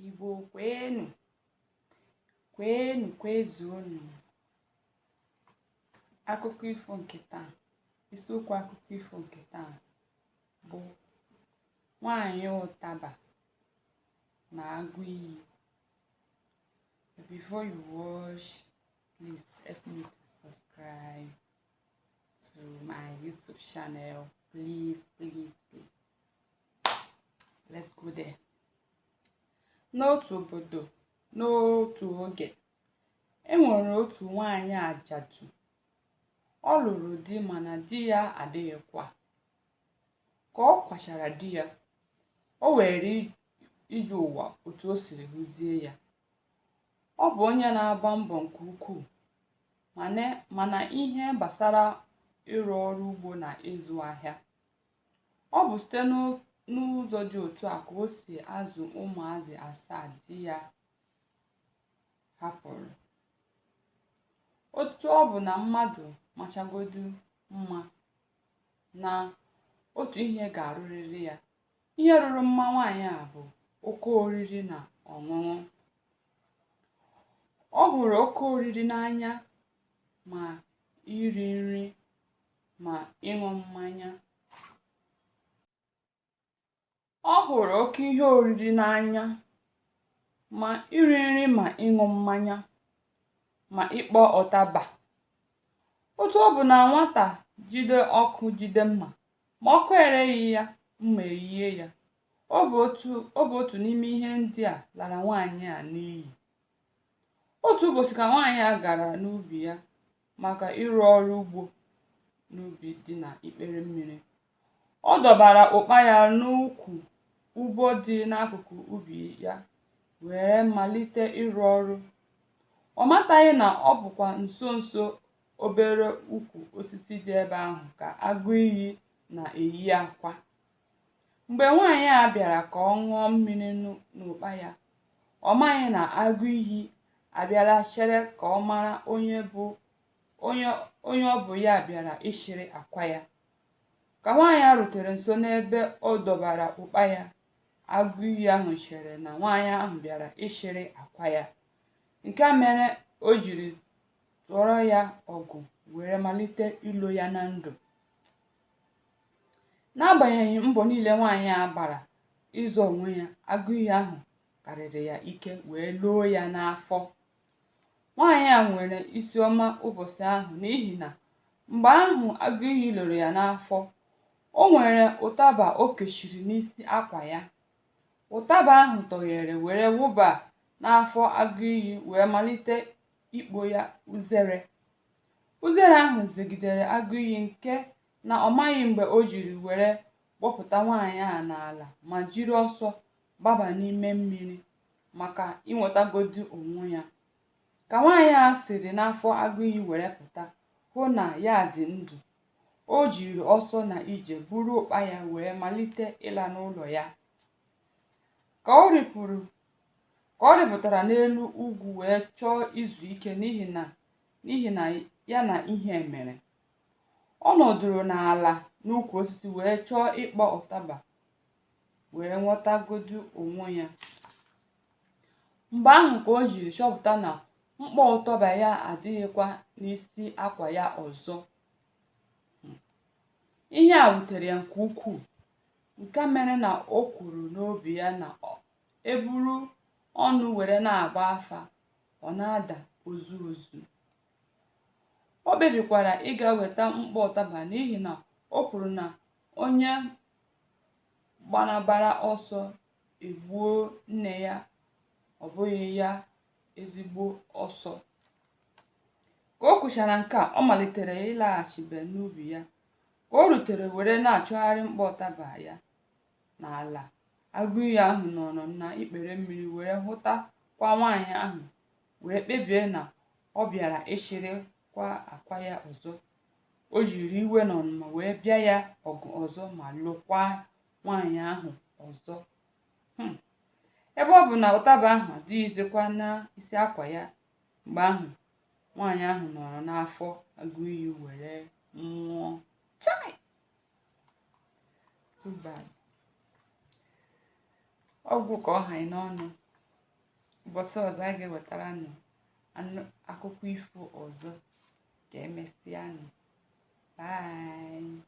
Igbo kwenu, kwenu kwezuonu. Akụkọ ifo nke taa, isiokwu akụkọ ifo nke taa bụ nwanyị ụtaba na agụ iyi. Before you watch, please help me to subscribe to my YouTube channel. Please, please, please. let's go there n'otu obodo n'otu oge e nwere otu nwanyị ajadu ọ lụrụ di mana di ya adịghịkwa ka ọ kwachara di ya o were ije ụwa otu o siri hụzie ya ọ bụ onye na-agba mbọ nke ukwuu ma n'ihe gbasara ịrụ ọrụ ugbo na ịzụ ahịa Ọ bụ site n'ụzọ dị otu a ka o si azụ ụmụazị asaa di ya hapụrụ. Otu ọ bụ na mmadụ machagodu mma na otu ihe ga-arụrịrị ya, ihe rụrụ mma nwaanyị a bụ oke oriri na ọṅụṅụ. Ọ hụrụ oke oriri n'anya ma iri nri ma ịṅụ mmanya. Ọ hụrụ oke ihe oriri n'anya, ma iri nri ma ịṅụ mmanya, ma ịkpọ ụtaba. Otu ọ bụ na nwata jide ọkụ jide mma, ma ọkụ ereghị ya, mma eyie ya. Ọ bụ otu ọ bụ otu n'ime ihe ndị a lara nwaanyị a n'iyi. Otu ụbọchị ka nwaanyị a gara n'ubi ya maka ịrụ ọrụ ugbo n'ubi dị na ikpere mmiri. Ọ dọbara ụkpa ya n'ukwu ugbo dị n'akụkụ ubi ya were malite ịrụ ọrụ. Ọ mataghị na ọ bụkwa nso nso obere ukwu osisi dị ebe ahụ ka agụ iyi na-eyi akwa. Mgbe nwaanyị a bịara ka ọ ṅụọ mmiri n'ụkpa ya, ọ maghị na agụ iyi abịala chere ka ọ mara onye bụ onye onye ọ bụ ya bịara ịchịrị akwa ya. Ka nwaanyị a rutere nso n'ebe ọ dọbara ụkpa ya, agụ iyi ahụ chere na nwaanyị ahụ bịara ịchịrị akwa ya. Nke a mere o jiri tụọrọ ya ọgụ were malite ilo ya na ndụ. n'agbanyeghị mbọ niile nwaanyị a gbara ịzọ onwe ya agụ iyi ahụ karịrị ya ike wee loo ya n'afọ nwaanyị a nwere isi ọma ụbọchị ahụ n'ihi na mgbe ahụ agụ iyi loro ya n'afọ o nwere ụtaba o kechiri n'isi akwa ya ụtaba ahụ tọghere were wụba n'afọ agụ iyi wee malite ikpo ya uzere Uzere ahụ zegidere agụ iyi nke na ọ maghị mgbe o jiri were gbọpụta nwaanyị a n'ala ma jiri ọsọ gbaba n'ime mmiri maka inwetagodu onwe ya. Ka nwaanyị a siri n'afọ agụ iyi were pụta hụ na ya dị ndụ, o jiri ọsọ na ije buru ụkpa ya wee malite ịla n'ụlọ ya. Ka ọ rịpụtara n'elu ugwu wee chọọ izu ike n'ihi na n'ihi na ya na ihe mere ọ nọdụrụ n'ala n'ukwu osisi wee chọọ ịkpọ ụtaba wee nwetagodu onwe ya mgbe ahụ ka o jiri chọpụta na mkpọ ụtaba ya adịghịkwa n'isi akwa ya ọzọ hmm. ihe a wutere ya nke ukwuu nke mere na o kwuru n'obi ya na e buru ọnụ were na-agba afa ọ na-ada ozu ozu o kpebikwara ịga weta mkpọ ụtaba n'ihi na o kwuru na onye gbanabara ọsọ e gbuo nne ya ọ bụghị ya ezigbo ọsọ ka o kwuchara nke a ọ malitere ịlaghachibe n'ubi ya ka o rutere were na-achọgharị mkpọ ụtaba ya n'ala agụ iyi ahụ nọrọ na ikpere mmiri wee hụtakwa nwaanyị ahụ wee kpebie na ọ bịara ịchịrịkwa akwa ya ọzọ o jiri iwe na ọnụma wee bịa ya ọgụ ọzọ ma lokwaa nwaanyị ahụ ọzọ hmm. ebe ọ bụ na ụtaba ahụ adịghịzikwa n'isi akwa ya mgbe ahụ nwaanyị ahụ nọrọ n'afọ agụ iyi were nwụọ chai too bad ọ gwụ ka ọ ha anyị n'ọnụ ụbọchị ọzọ a ga-ewetara nụ akụkọ ifo ọzọ ka emesịa nụ bye